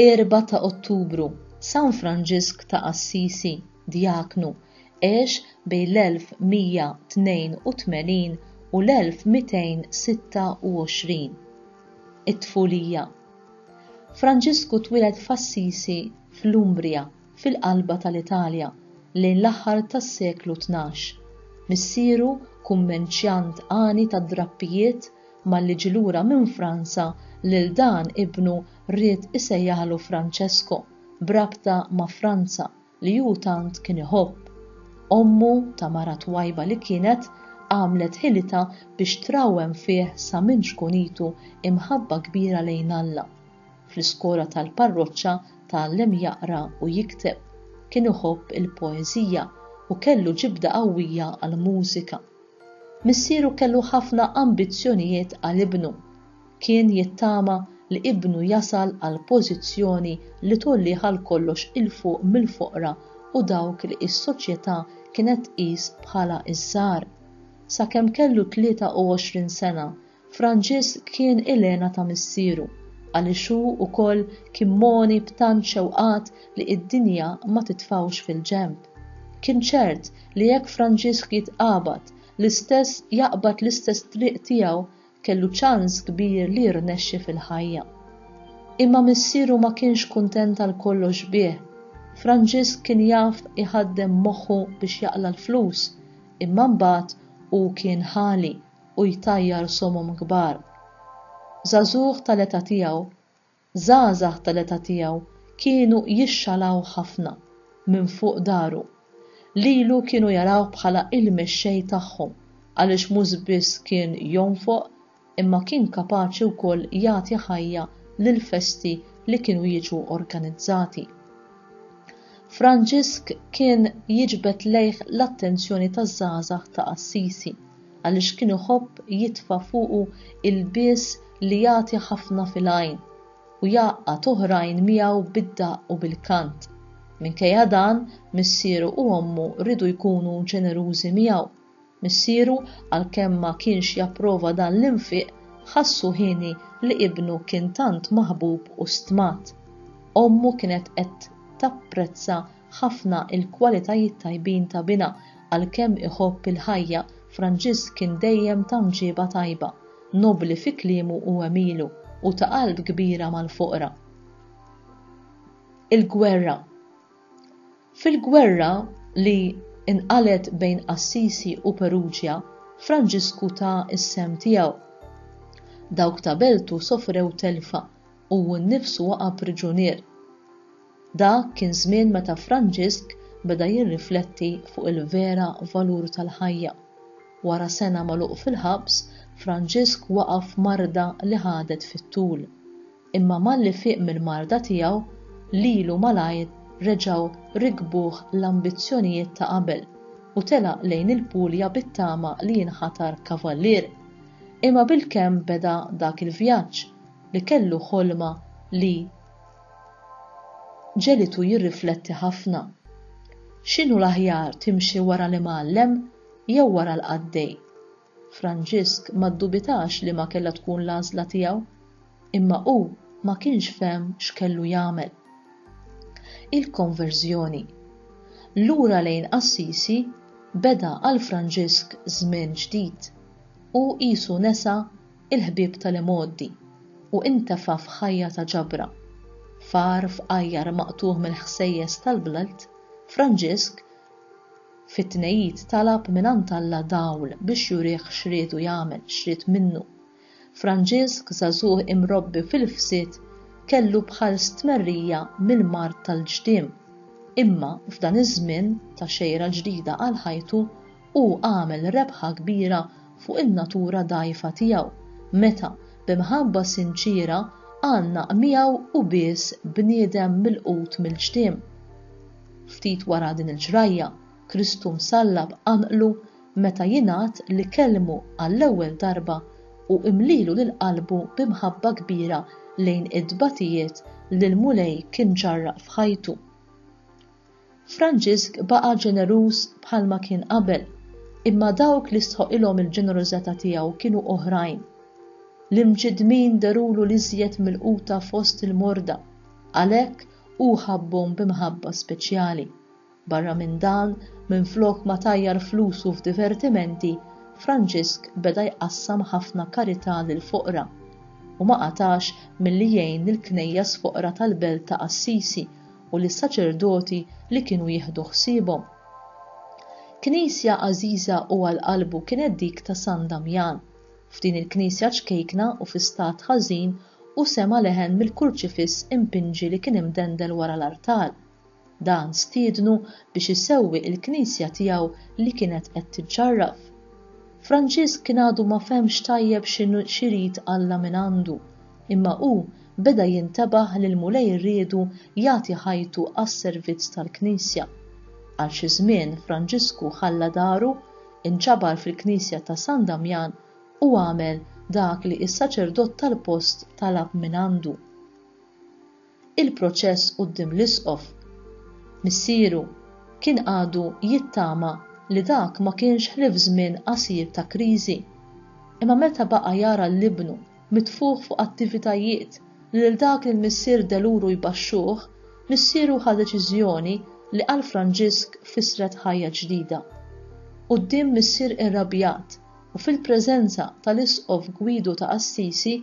Erba ta' Ottubru, San Franġisk ta' Assisi, Djaknu, għex bejn l-1182 u l-1226. It-tfulija Franġisku twieled f'Assisi fl-Umbria, fil-qalba tal-Italja, lejn l-aħħar tas-seklu tnax. Missieru, kummenċjant għani tad-drappijiet, malli ġie lura minn Franza lil dan ibnu ried isejjaħlu Franċesko, b'rabta ma' Franza, li hu tant kien iħobb. Ommu ta' mara twajba li kienet, għamlet ħilitha biex trawwem fih sa minn ċkunitu imħabba kbira lejn Alla. Fl-iskola tal-parroċċa tgħallem jaqra u jikteb. Kien iħobb il-poeżija u kellu ġibda qawwija għall-mużika. Missieru kellu ħafna ambizzjonijiet għal ibnu. Kien jittama li ibnu jasal għal pożizzjoni li tgħollih għal kollox 'il fuq mill-foqra u dawk li s-soċjetà kienet tqis bħala ż-żgħar. Sakemm kellu 23 sena, Franġisk kien il-hena ta' missieru, għaliex hu wkoll kien mogħni b'tant xewqat li d-dinja ma titfgħux fil-ġenb. Kien ċert li jekk Franġisk jitqabad, l-istess jaqbad l-istess triq tiegħu Kellu ċans kbir li jirnexxi fil-ħajja. Imma missieru ma kienx kuntent għal kollox bih. Franġisk kien jaf iħaddem moħħu biex jaqla' l-flus, imma mbagħad hu kien ħali u jtajjar somom kbar. Żagħżugħ tal-età tiegħu, Żgħażagħ tal-età tiegħu kienu jixxalawh ħafna minn fuq daru. Lilu kienu jarawh bħala il-mexxej tagħhom għaliex mhux biss kien jonfoq imma kien kapaċi wkoll jagħti ħajja lill-festi li kienu jiġu organizzati. Franġisk kien jiġbed lejh l-attenzjoni taż-żgħażagħ ta' Assisi. għaliex kien iħobb jitfa' fuqu ilbies li jagħti ħafna fil-għajn u jgħaqqad oħrajn miegħu bid-daqq u bil-kant. Minkejja dan, missieru u ommu riedu jkunu ġenerużi miegħu. Missieru, għalkemm ma kienx japprova dan l-infiq, ħassu hieni li ibnu kien tant maħbub u stmat. Ommu kienet qed tapprezza ħafna il-kwalitajiet tajbin ta' Bina, għalkemm iħobb il-ħajja, Franġisk kien dejjem ta' mġieba tajba, nobbli fi kliemu u għemilu, u ta' qalb kbira mal-foqra. Il-gwerra Fil-gwerra li nqalgħet bejn Assisi u Peruġja, Franġisku ta s-sehem tiegħu. Dawk ta' beltu sofrew telfa u hu nnifsu waqa' priġunier. Dak kien żmien meta Franġisk beda jirrifletti fuq il-vera valur tal-ħajja. Wara sena magħluq fil-ħabs, Franġisk waqa' f'marda li ħadet fit-tul. Imma malli fieq mill-marda tiegħu, lilu malajr reġgħu rikbuh l-ambizzjonijiet ta' qabel u telaq lejn il-Puglia bit-tama li jinħatar kavallier. Imma bilkemm beda dak il-vjaġġ, li kellu ħolma li Ġelitu jirrifletti ħafna. X'inhu l-aħjar timxi wara l-imgħallem jew wara l-qaddej? Franġisk ma ddubitax liema kellha tkun l-għażla tiegħu, imma hu ma kienx fehem x'kellu jagħmel. Il-konverżjoni. Lura lejn Assisi beda għal Franġisk żmien ġdid. Hu qisu nesa il-ħbieb tal-imgħoddi, u intefa' f'ħajja ta' ġabra. Far fqajjar maqtugħ mill-ħsejjes tal-belt, Franġisk fit-Tnejjid talab mingħand Alla dawl biex jurih x'riedu jagħmel, x'ried minnu. Franġisk, żagħżugħ imrobbi fil-fsid, kellu bħal stmerrija mill-mard tal-ġdiem. Imma f'dan iż-żmien ta' xejra ġdida għal ħajtu, Hu għamel rebħa kbira fuq in-natura dgħajfa tiegħu meta, bi mħabba sinċiera, għannaq miegħu u bies bniedem milqut mill-ġtiem. Ftit wara din il-ġrajja, Kristu msallab għanqlu meta jingħad li kellmu għall-ewwel darba u mlielu lil qalbu bi mħabba kbira lejn it-tbatijiet li l-Mulej kien ġarrab f'ħajtu. Franġisk baqa' ġeneruż bħalma kien qabel, imma dawk li stħoqqilhom il-ġenerożata tiegħu kienu oħrajn. L-imġiddmin derulu l-iżjed milquta fost il-morda, għalhekk hu ħabbhom b'imħabba speċjali. Barra minn dan, minflok ma tajjar flusu f'divertimenti, Franġisk beda jqassam ħafna karità lill-foqra, u ma qatax milli jgħin lill-knejjes foqra tal-belt ta' Assisi u lis-saċerdoti li kienu jieħdu ħsiebhom. Knisja għażiża u għal qalbu kienet dik ta' San Damjan. F'din il-knisja ċkejkna u fi stat ħażin hu sema' leħen mill-kurċifiss impinġi li kien imdendel wara l-artal. Dan stiednu biex isewwi il-knisja tiegħu li kienet qed tiċċarraf. Franġisk kien għadu ma fehmx tajjeb x'inhu x'irid Alla mingħandu Imma hu beda jintebaħ li l-Mulej riedu jagħti ħajtu għas-servizz tal-Knisja. Għal xi żmien Franġisku ħalla daru, inġabar fil-Knisja ta' San Damjan u għamel dak li s-saċerdot tal-post talab mingħandu. il-proċess quddiem l-Isqof. Missieru kien għadu jittama li dak ma kienx ħlief żmien qasir ta' kriżi. Imma meta baqa' jara l-ibnu mitfugħ fuq attivitajiet li lil dak li l-missier deluru jbaxxuh, missieru ħa deċiżjoni li għal Franġisk fissret ħajja ġdida. Quddiem missier irrabjat u fil-preżenza tal-Isqof Gwidu ta' Assisi,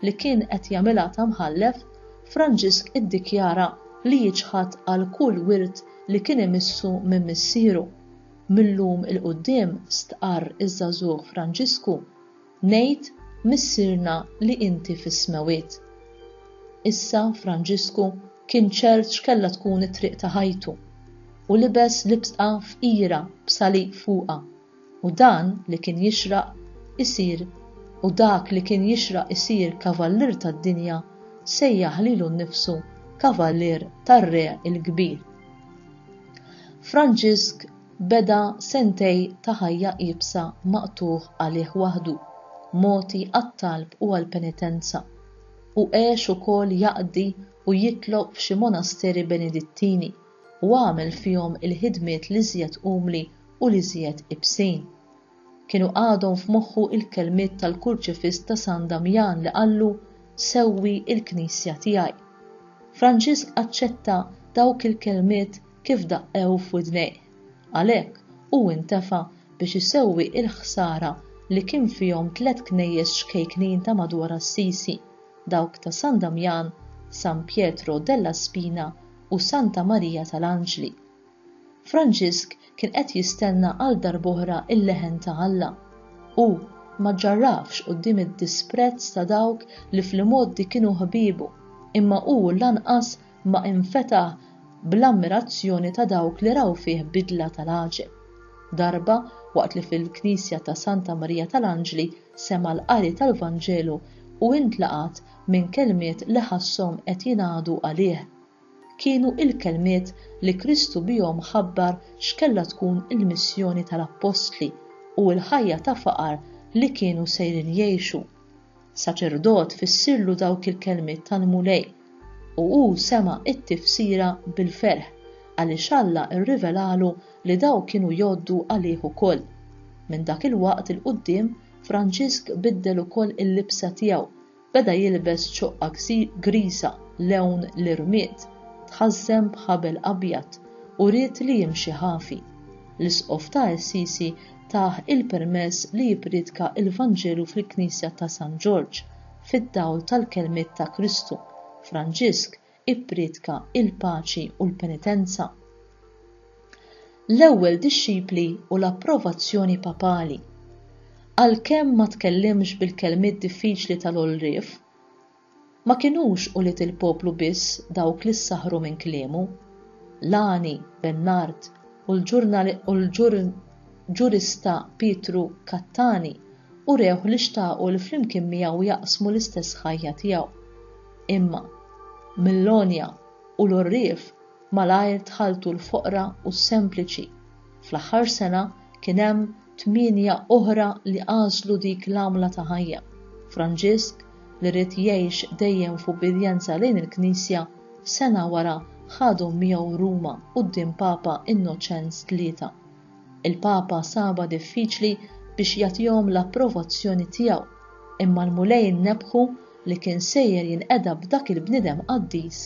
li kien qed jagħmilha ta' mħallef, Franġisk iddikjara li jiċħad għal kull wirt li kien imissu minn missieru. Mil-lum 'il quddiem, stqarr iż-żagħżugħ Franġisku, ngħid Missierna li inti fis-Smewwiet. Issa Franġisku kien ċert x'kellha tkun it-triq ta' ħajtu, u libes libsqa fqira b'salib fuqha u dan li kien jixraq isir u dak li kien jixraq isir kavallier tad-dinja sejjaħ lilu nnifsu kavallier tar-Re l-Kbir. Franġisk beda sentej ta' ħajja iebsa maqtugħ għalih waħdu, mogħti għat-talb u għall-penitenza, u għex ukoll jaqdi u jitlob f'xi monasteri Benedittini, u għamel fihom il-ħidmiet l-iżjed umli u l-iżjed iebsin. Kienu għadhom f'moħħu l-kelmiet tal-kurċifiss ta' San Damjan li qallu, Sewwi l-Knisja tiegħi. Franġisk aċċetta dawk il-kelmiet kif daqqew f'widnejh. Għalhekk, hu intefa' biex isewwi l-ħsara li kien fihom tliet knejjes ċkejknin ta' madwar Assisi, dawk ta' San Damjan, San Pietro della Spina u Santa Marija tal-Anġli. Franġisk kien qed jistenna għal darb'oħra il-leħen ta' Alla. Hu ma ġġarrafx quddiem id-disprezz ta' dawk li fl-imgħoddi kienu ħbiebu, imma hu lanqas ma infetaħ bl-ammirazzjoni ta' dawk li raw fih bidla tal-għaġeb. Darba, waqt li fil-knisja ta' Santa Marija tal-Anġli sema' l-qari tal-Vanġelu, hu intlaqat minn kelmiet li ħasshom qed jingħadu għalih. Kienu il-kelmiet li Kristu bihom ħabbar x'kellha tkun il-missjoni tal-appostli u l-ħajja ta' faqar li kienu sejrin jgħixu. Saċerdot fissirlu dawk il-kelmiet tal-Mulej u hu sema' t-tifsira bil-ferħ għaliex Alla rrivelalu li dawn kienu jgħoddu għalih ukoll. Minn dak il-waqt 'il quddiem Franġisk biddel ukoll il-libsa tiegħu, beda jilbes ċoqqa griża lewn l-irmied, tħażżen b'ħabel abjad u ried li jimxi ħafi. L-Isqof ta' Assisi tah il-permess li jippriedka l-Vanġelu fil-Knisja ta' San Ġorġ, fid-dawl tal-kelmiet ta' Kristu, Franġisk ippriedka l-paċi u l-penitenza. L-ewwel dixxipli u l-approvazzjoni papali. Għalkemm ma tkellimx bil-kelmiet diffiċli tal-għolrief, ma kinux ulied il-poplu biss dawk li ssaħħru minn kliemu. Lani, Bennard u l-ġurista Pietru Cattani urewh li xtaqu li flimkien miegħu jaqsmu l-istess ħajja tiegħu. Imma, mill-għonja u l-għorrief malajr dħaltu l-foqra u s-sempliċi. Fl-aħħar sena kien hemm tmienja oħra li għażlu dik l-għamla ta' ħajja. Franġisk, li ried jgħix dejjem f'ubbidjenza lejn il-Knisja, sena wara ħadhom miegħu Ruma quddiem Papa Innoċenz Tlieta. Il-Papa sabha diffiċli biex jagħtihom l-approvazzjoni tiegħu, imma l-Mulej nnebħu li kien sejjer jinqeda b'dak il-bniedem qaddis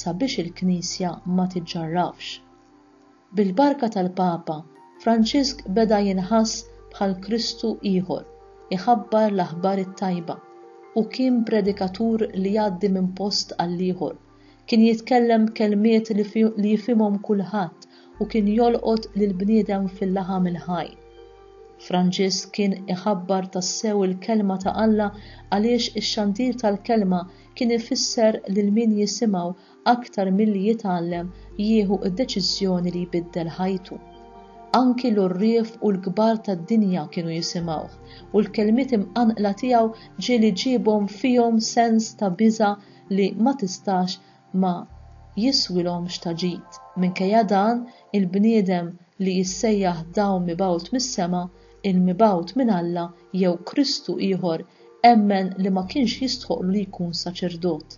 sabiex il-Knisja ma tiġġarrafx. Bil-barka tal-Papa, Franġisk beda jinħass bħal Kristu ieħor, iħabbar l-aħbar it-tajba, u kien predikatur li jgħaddi minn post għall-ieħor, Kien jitkellem b'kelmiet li jifhimhom kulħadd u kien jolqot lill-bniedem fil-laħam il-ħaj. Franġisk kien iħabbar tassew il-Kelma ta' Alla għaliex ix-xandir tal-Kelma kien ifisser lil min jisimgħu aktar milli jitgħallem jieħu d-deċiżjoni li jbiddel ħajtu. Anki l-għorrief u l-kbar tad-dinja kienu jisimgħuh u l-kelmiet imqanqla tiegħu ġieli ġiebhom fihom sens ta' biża' li ma tistax ma jiswilhomx ta' ġid. Minkejja dan, il-bniedem li jissejjaħ dawl mibgħut mis-sema, il-mibgħut minn Alla jew Kristu ieħor emmen li ma kienx jistħoqqlu li jkun saċerdot.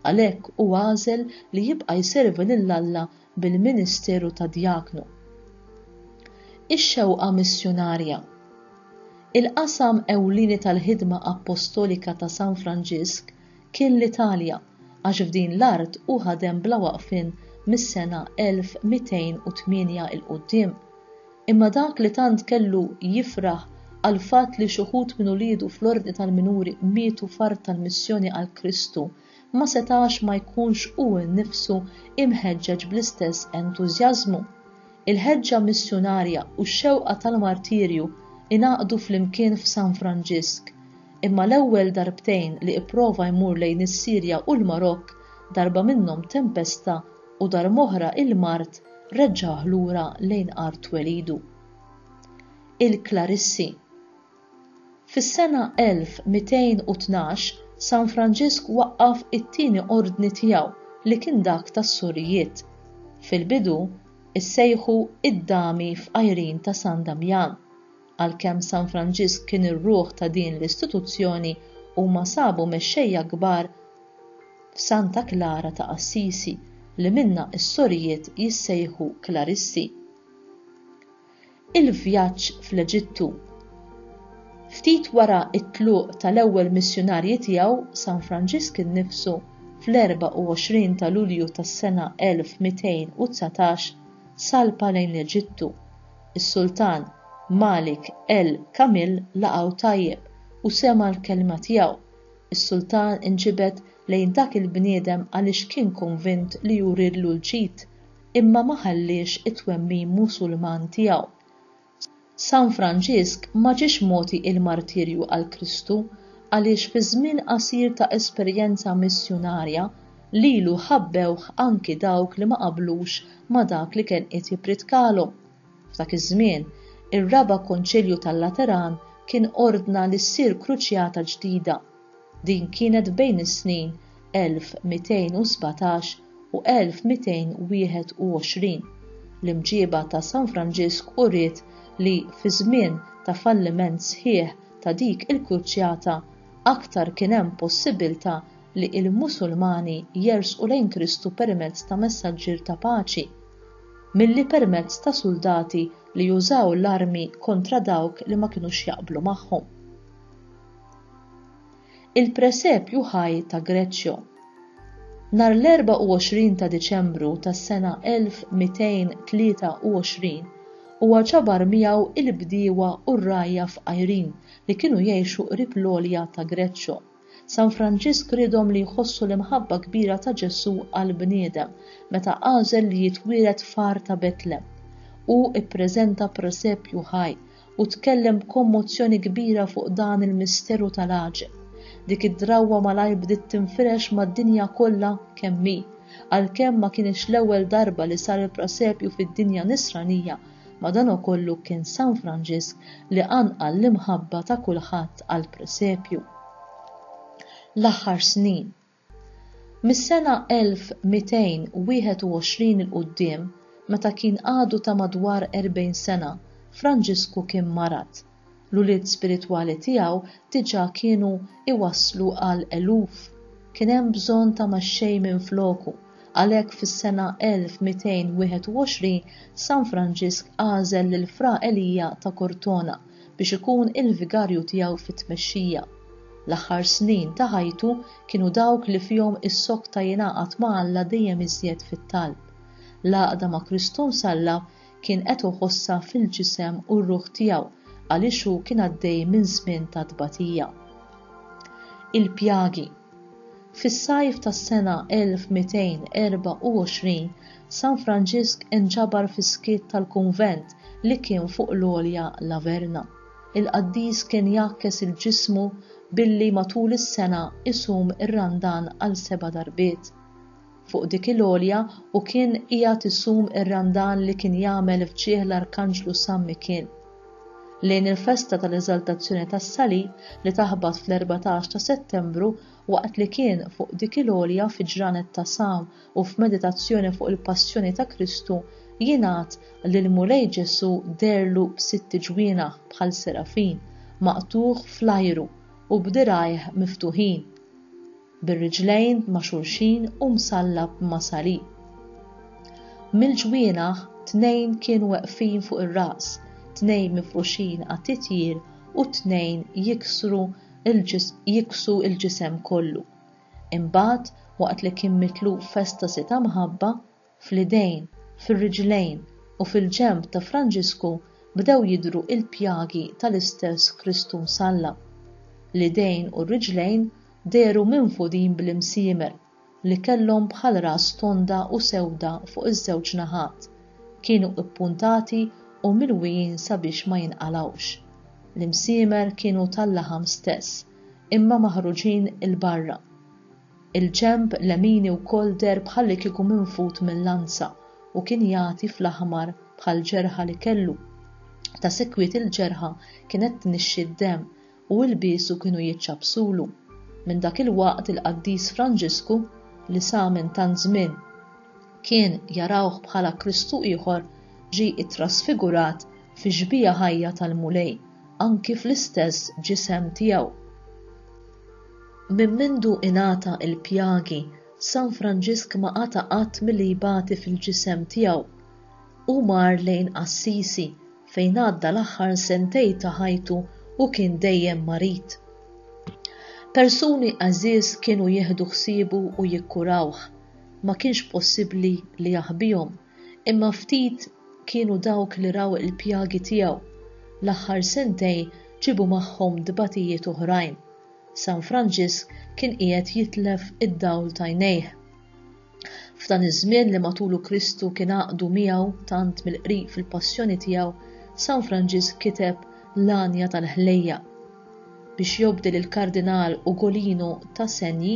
Għalhekk hu għażel li jibqa' jservi lil Alla bil-ministeru ta' djaknu. Ix-xewqa missjunarja. Il-qasam ewlieni tal-ħidma appostolika ta' San Franġisk kien l-Italja, għax f'din l-art hu ħadem bla waqfien mis-sena 1208 'il quddiem. Imma dak li tant kellu jifraħ għall-fatt li x'uħud minn uliedu fl-Ordni tal-Minuri mietu f'art tal-missjoni għal Kristu, ma setax ma jkunx hu nnifsu imħeġġeġ bl-istess entużjażmu. Il-ħeġġa missjunarja u x-xewqa tal-martirju ingħaqdu flimkien f'San Franġisk, imma l-ewwel darbtejn li ipprova jmur lejn is-Sirja u l-Marokk, darba minnhom tempesta u darb'oħra il-mard reġġagħh lura lejn art twelidu. Il-Klarissi. Fis-sena 1212, San Franġisk waqqaf it-tieni ordni tiegħu li kien dak tas-Surijiet. Fil-bidu, issejħu id-Dami f'għajrin ta' San Damjan. Għalkemm San Franġisk kien ir-ruħ ta' din l-istituzzjoni, huma sabu mexxejja kbar f'Santa Klara ta' Assisi, li minnha s-Sorijiet jissejħu Klaristi. Il-vjaġġ fl-Eġittu. Ftit wara t-tluq tal-ewwel missjunarji tiegħu, San Franġisk innifsu, fl-24 ta' Lulju tas-sena 1219, salpa lejn l-Eġittu. Is-Sultan Malik el Kamil laqgħu tajjeb u sema' l-kelma tiegħu. Is-Sultan inġibed lejn dak il-bniedem għaliex kien konvint li jurilu l-ġid imma ma ħalliex it-twemmin Musulman tiegħu. San Franġisk ma ġiex mogħti il-martirju għal Kristu għaliex fi żmien qasir ta' esperjenza missjunarja lilu ħabbewh anki dawk li ma qablux ma' dak li kien qiegħed jippritkalhom. F'dak iż-żmien, ir-Raba' Konċilju tal-Lateran kien ordna li ssir kruċjata ġdida. Din kienet bejn is-snin 1217 u 1221. L-imġieba ta' San Franġisk uriet li fi żmien ta' falliment sħiħ ta' dik il-kruċjata, aktar kien hemm possibbiltà li l-Musulmani jersqu lejn Kristu permezz ta' messaġġier ta' paċi, milli permezz ta' suldati li jużaw l-armi kontra dawk li ma kinux jaqblu magħhom. Il-presepju ħaj ta' Greċjo. Nhar l-24 ta' Diċembru tas-sena 1223 huwa ġabar miegħu il-bdiewa u r-rgħajja fqajrin li kienu jgħixu qrib l-għolja ta' Greċjo. San Franġisk riedhom li jħossu l-imħabba kbira ta' Ġesù għall-bniedem meta għażel li jitwieled f'għar ta' Betlem. Hu ppreżenta presepju ħaj u tkellem b'kommozzjoni kbira fuq dan il-misteru tal-għaġeb. Dik id-drawwa malajr bdiet tinfirex mad-dinja kollha kemm hi. Għalkemm ma kinitx l-ewwel darba li sar il-Prasepju fid-dinja Nisranija, madankollu kien San Franġisk li qanqal l-imħabba ta' kulħadd għall-Presepju. L-aħħar snin. Mis-sena 1221 'il quddiem, meta kien għadu ta' madwar erbgħin sena, Franġisku kien marad. L-ulied spiritwali tiegħu diġà kienu jwasslu għal eluf. Kien hemm bżonn ta' mexxej minfloku, għalhekk fis-sena 1221 San Franġisk għażel lil Fra Elija ta' Cortona, biex ikun il-vigarju tiegħu fit-tmexxija. L-aħħar snin ta' ħajtu kienu dawk li fihom issokta jingħaqad ma' Alla dejjem iżjed fit-talb. L-għaqda ma' Kristu Msallab kien qed uħossha fil-ġisem u r-ruħ tiegħu għaliex hu kien għaddej minn żmien ta' tbatija. Il-pjagi. Fis-sajf tas-sena 1224, San Franġisk inġabar fis-skiet tal-kunvent li kien fuq l-għolja Laverna. Il-qaddis kien jgħakkes il-ġismu billi matul is-sena isum ir-Randan għal seba' darbiet. fuq dik il-għolja u kien qiegħed isum ir-Randan li kien jagħmel f'ġieh l-Arkanġlu San Mikil. Lejn il-festa tal-Eżaltazzjoni tas-Salib li taħbat fl-14 ta' Settembru, waqt li kien fuq dik il-għolja fi ġranet ta' sawm u f'meditazzjoni fuq il-Passjoni ta' Kristu, jingħad li l-Mulej Ġesù deherlu b'sitt ġwienaħ bħal serafin, maqtugħ fl-ajru u b'dirgħajh miftuħin. bir-riġlejn ma' xulxin u msallab ma' salib. Mill-ġwienaħ tnejn kienu weqfin fuq ir-ras, tnejn mifruxin għat-titjir u t-tnejn jiksru jiksu l-ġisem kollu. Imbagħad, waqt li kien mitluf f'estasi ta' mħabba, Fl-idejn, fir-riġlejn u fil-ġenb ta' Franġisku bdew jidhru l-pjagi tal-istess Kristu msallab. L-idejn u r-riġlejn dehru minfudin bl-imsiemer li kellhom bħal ras tonda u sewda fuq iż-żewġ naħat, kienu ppuntati u milwijin sabiex ma jinqalgħux. L-imsiemer kienu tal-laħam stess, imma maħruġin 'il barra. Il-ġenb lemini wkoll deher bħallikieku minfud minn lanza u kien jagħti fl-aħmar bħall-ġerħa li kellu. Ta' sikwit il-ġerħa kienet tnixxi d-demm u ilbiesu kienu jiċċappsulu. Minn dak il-waqt il-Qaddis Franġisku, li sa minn tant żmien kien jarawh bħala Kristu ieħor, ġie ittrasfigurat fi xbieha ħajja tal-Mulej, anki fl-istess ġisem tiegħu. Minn mindu ingħata l-pjagi, San Franġisk ma qata' qatt milli jbati fil-ġisem tiegħu. Hu mar lejn Assisi, fejn għadda l-aħħar sentej ta' ħajtu u kien dejjem marid. Persuni għażież kienu jieħdu ħsiebu u jikkurawh. Ma kienx possibbli li jaħbihom. Imma ftit kienu dawk li raw il-pjagi tiegħu. L-aħħar sentejn ġiebu magħhom tbatijiet oħrajn. San Franġisk kien qiegħed jitlef id-dawl t'għajnejh. F'dan iż-żmien li matulu Kristu kien għaqdu miegħu tant mill-qrib fil-passjoni tiegħu, San Franġisk kiteb L-Għanja tal-Ħlejjaq. Biex jobdi lill-Kardinal Ugolino Tasegni,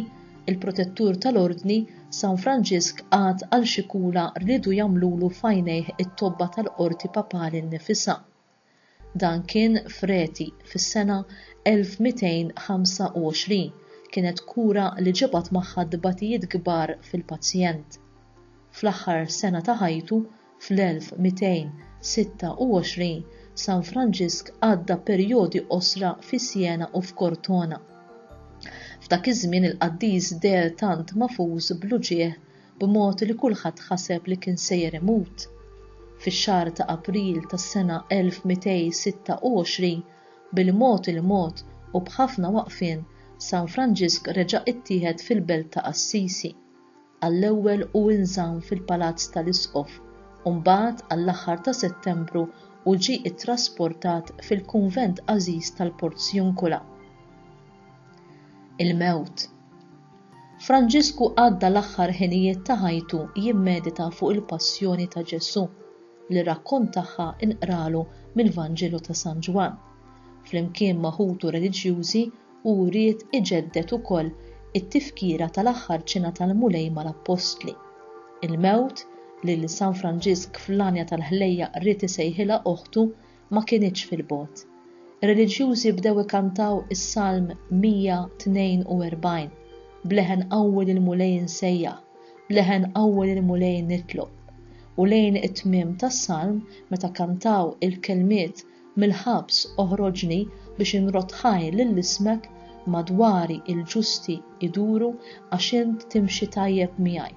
Il-protettur tal-Ordni, San Franġisk qagħad għal xi kura riedu jagħmlulu f'għajnejh it-tobba tal-Qorti Papali nnifisha. Dan kien f'Rheti, fis-sena 1225. Kienet kura li ġabat magħha tbatijiet kbar fil-pazjent. Fl-aħħar sena ta' ħajtu, Fl-1226, San Franġisk għadda perjodi qosra fi Siena u f'Cortona. F'dak iż-żmien il-qaddis deher tant magħfuż bl-uġigħ b'mod li kulħadd ħaseb li kien sejjer imut. Fix-xahar ta' April tas-sena 1226, bil-mod il-mod u b'ħafna waqfien, San Franġisk reġa' ittieħed fil-belt ta' Assisi. għall-ewwel hu nżamm fil-Palazz tal-Isqof u mbagħad għall-aħħar ta' Settembru hu ġie ttrasportat fil-kunvent għażiż tal-Porziuncula. Il-mewt. Franġisku għadda l-aħħar ħinijiet ta' ħajtu jimmedita fuq il-passjoni ta' Ġesù li rakkont tagħha nqralu mill-Vanġelu ta' San Ġwann, flimkien ma' ħutu reliġjużi Hu ried iġedded ukoll it-tifkira tal-aħħar ċena tal-Mulej mal-Appostli. Il-mewt, li lil San Franġisk fl-għanja tal-ħlejjaq ried isejħilha oħtu, ma kinitx fil-bogħod. Ir-reliġjużi bdew ikantaw is-Salm 142, B'leħen qawwi lill-Mulej insejjaħ, b'leħen qawwi lill-Mulej nitlob. U lejn it-tmiem tas-Salm, meta kantaw il-kelmiet Mill-ħabs oħroġni biex inrodd ħajr lil ismek, madwari l-ġusti jduru għax int timxi tajjeb miegħi.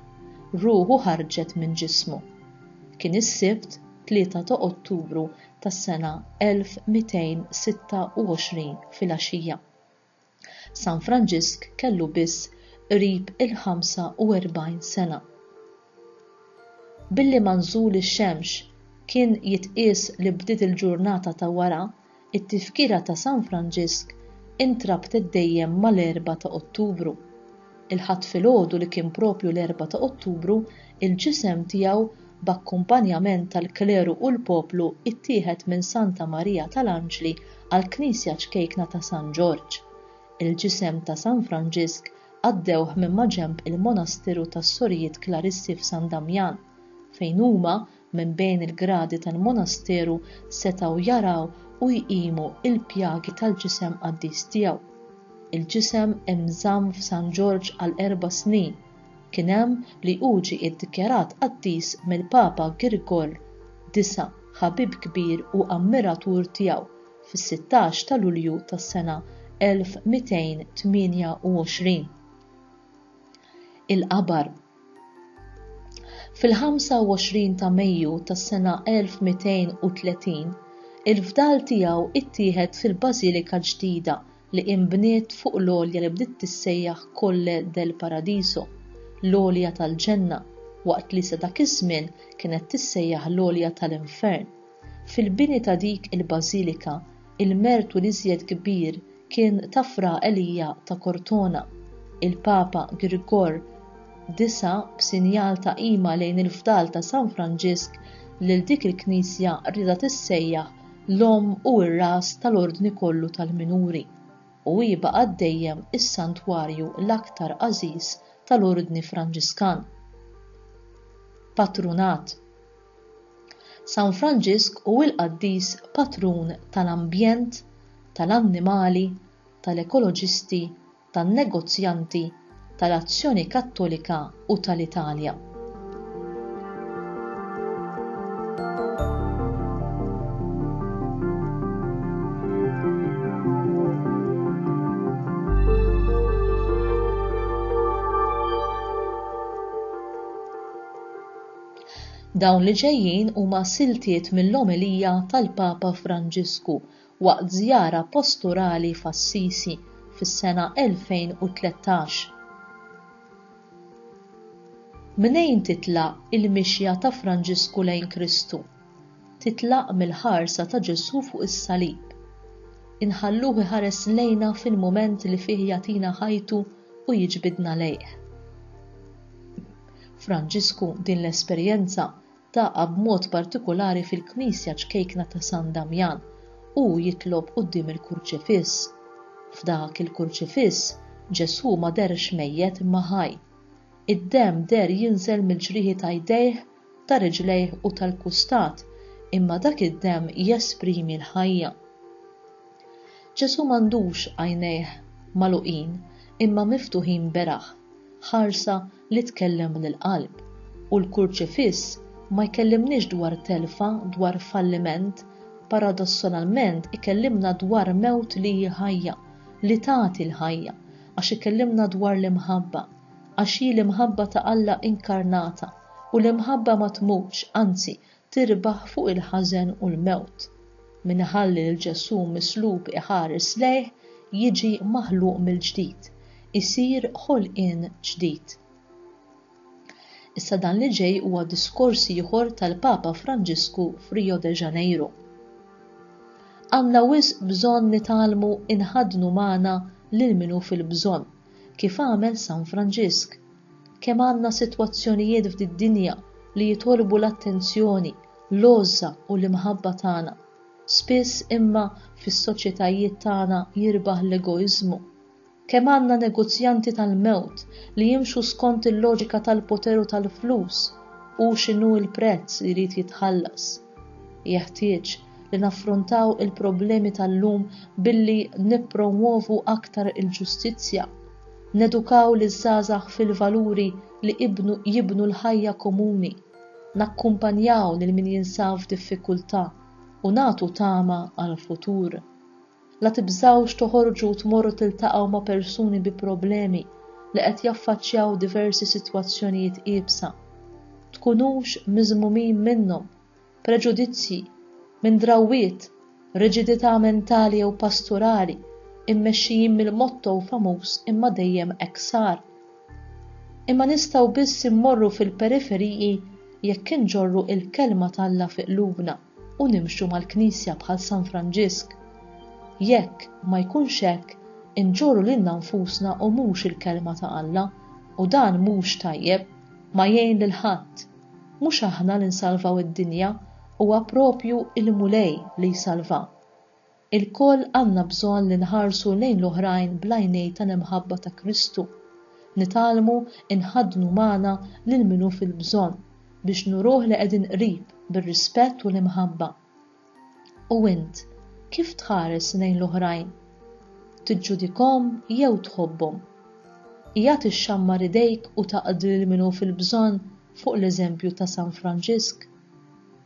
Ruħu ħarġet minn ġismu. Kien is-Sibt, 3 ta' Ottubru tas-sena 1226 filgħaxija. San Franġisk kellu biss qrib il-45 sena. Billi manżul ix-xemx kien jitqies li bdiet il-ġurnata ta' wara, it-tifkira ta' San Franġisk intrabtet dejjem mal-Erbgħa ta' Ottubru. Il-Ħadd filgħodu li kien proprju l-Erbgħa ta' Ottubru, il-ġisem tiegħu, b'akkumpanjament tal-kleru u l-poplu ttieħed minn Santa Marija tal-Anġli għall-Knisja ċkejkna ta' San Ġorġ. Il-ġisem ta' San Franġisk għaddewh minn maġenb il-Monasteru tas-Sorijiet Klarissi f'San Damjan, fejn huma minn bejn il-gradi tal-monasteru setgħu jaraw u jqimu l-pjagi tal-ġisem qaddis tiegħu. Il-ġisem inżamm f'San Ġorġ għal erba' snin. Kien hemm li hu ġie iddikjarat qaddis mill-Papa Girgor disa', ħabib kbir u ammiratur tiegħu, fis-sittax ta' Lulju tas-sena 1228. Il-qabar. Fil-25 ta' Mejju tas-sena 1230, il-fdal tiegħu ttieħed fil-bażilika ġdida li inbniet fuq l-għolja li bdiet tissejjaħ Colle del Paradiso, l-Għolja tal-Ġenna, waqt li sa dak iż-żmien kienet tissejjaħ l-Għolja tal-Infern. Fil-bini ta' dik il-bażilika, il-mertu l-iżjed kbir kien ta' Fra Elia ta' Cortona. Il-Papa Grigor disa', b'sinjal ta' qima lejn il-fdal ta' San Franġisk, lil dik il-knisja riedha tissejjaħ l-omm u r-ras tal-ordni kollu tal-minuri, u hi baqgħet dejjem is-santwarju l-aktar għażiż tal-Ordni Franġiskan. Patrunat. San Franġisk hu l-qaddis patrun tal-ambjent, tal-annimali, tal-ekoloġisti, tan-negozjanti, tal-Azzjoni Kattolika u tal-Italja. Dawn li ġejjin huma siltiet mill-omelija tal-Papa Franġisku waqt żjara posturali f'Assisi fis-sena 2013. Mnejn titlaq il-mixja ta' Franġisku lejn Kristu? Titlaq mill-ħarsa ta' Ġesù fuq is-salib. Inħalluh iħares lejna fil-mument li fih jagħtina ħajtu u jiġbidna lejh. Franġisku din l-esperjenza taqgħa b'mod partikulari fil-knisja ċkejkna ta' San Damjan u hu jitlob quddiem il-Kurċifiss. F'dak il-Kurċifiss, Ġesù ma dehrx mejjet imma ħaj. Id-demm deher jinżel mill-ġrieħi ta' jdejh, ta' riġlejh u tal-kustat, imma dak id-demm jesprimi l-ħajja. Ġesù m'għandux għajnejh magħluqin imma miftuħin beraħ, ħarsa li tkellem minn il-qalb u l-Kurċifiss ma jkellimniex dwar telfa, dwar falliment, paradossonalment ikellimna dwar mewt li hi ħajja, li tagħti l-ħajja, għax ikellimna dwar l-imħabba, għax hi l-imħabba ta' Alla inkarnata, u l-imħabba ma tmutx, anzi, tirbaħ fuq il-ħażen u l-mewt, min iħalli lil Ġesù mislub iħares lejh jiġi maħluq mill-ġdid, isir ħolqien ġdid. Issa dan li ġej huwa diskors ieħor tal-Papa Franġisku f'Rio de Janeiro. Għandna wisq bżonn nitgħallmu nħaddnu magħna lil min hu fil-bżonn, kif għamel San Franġisk, Kemm għandna sitwazzjonijiet f'did-dinja li jitolbu l-attenzjoni, l-għożża u l-imħabba tagħna. Spiss imma fis-soċjetajiet tagħna jirbaħ l-egoiżmu. Kemm għandna negozjanti tal-mewt li jimxu skont il-loġika tal-poter u tal-flus, hu x'inhu l-prezz li jrid jitħallas. Jeħtieġ li naffrontaw il-problemi tal-lum billi nippromwovu aktar il-ġustizzja, nedukaw liż-żgħażagħ fil-valuri li jibnu l-ħajja komuni, nakkumpanjaw lil min jinsab f'diffikultà u nagħtu tama għall-futur. La tibżgħux toħorġu u tmorru tiltaqgħu ma' persuni bi problemi li qed jaffaċċjaw diversi sitwazzjonijiet iebsa. Tkunux miżmumin minnhom, preġudizzji, minn drawwiet, riġidità mentali jew pasturali, immexxijin mill-motto famuż imma dejjem hekk sar. Imma nistgħu biss immorru fil-periferiji jekk inġorru l-Kelma t'Alla fi qlubna. u nimxu mal-Knisja bħal San Franġisk. Jekk ma jkunx hekk, inġorru lilna nfusna u mhux il-Kelma ta' Alla, u dan mhux tajjeb, ma jgħin lil ħadd. Mhux aħna li nsalvaw id-dinja, huwa proprju il-Mulej li jsalvha. Ilkoll għandna bżonn li nħarsu lejn l-oħrajn bl-għajnejn tal-imħabba ta' Kristu. Nitgħallmu nħaddnu magħna lil min hu fil-bżonn biex nuruh li qegħdin qrib bir-rispett u l-imħabba. U int, kif tħares lejn l-oħrajn? Tiġġudikhom jew tħobbhom? Qiegħed ixxammar idejk u taqdi lil min hu fil-bżonn fuq l-eżempju ta' San Franġisk?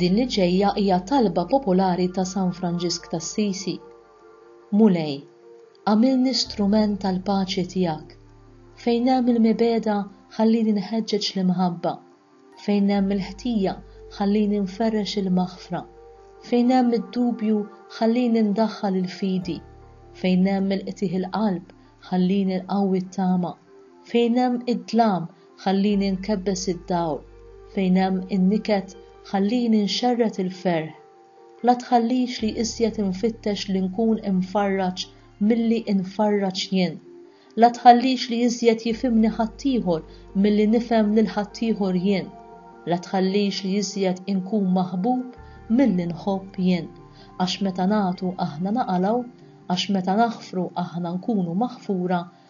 Din li ġejja hija talba popolari ta' San Franġisk t'Assisi, Mulej, agħmilni strument tal-paċi tiegħek, fejn hemm il-mibegħda ħallini nħeġġeġ l-imħabba, fejn hemm il-ħtija ħallini nferrex il-maħfra, fejn hemm id-dubju ħallini ndaħħal il-fidi, fejn hemm il-qtigħ il-qalb ħallini nqawwi t-tama, fejn hemm id-dlam ħallini nkebbes id-dawl, fejn hemm in-niket ħallini nxerred il-ferħ. La tħallix li iżjed infittex li nkun imfarraġ milli infarraġ jien. La tħallix li iżjed jifhimni ħaddieħor milli nifhem lil ħaddieħor jien. La tħallix li iżjed inkun maħbub milli nħobb jien. Għax meta nagħtu aħna naqalgħu, għax meta naħfru aħna nkunu maħfura,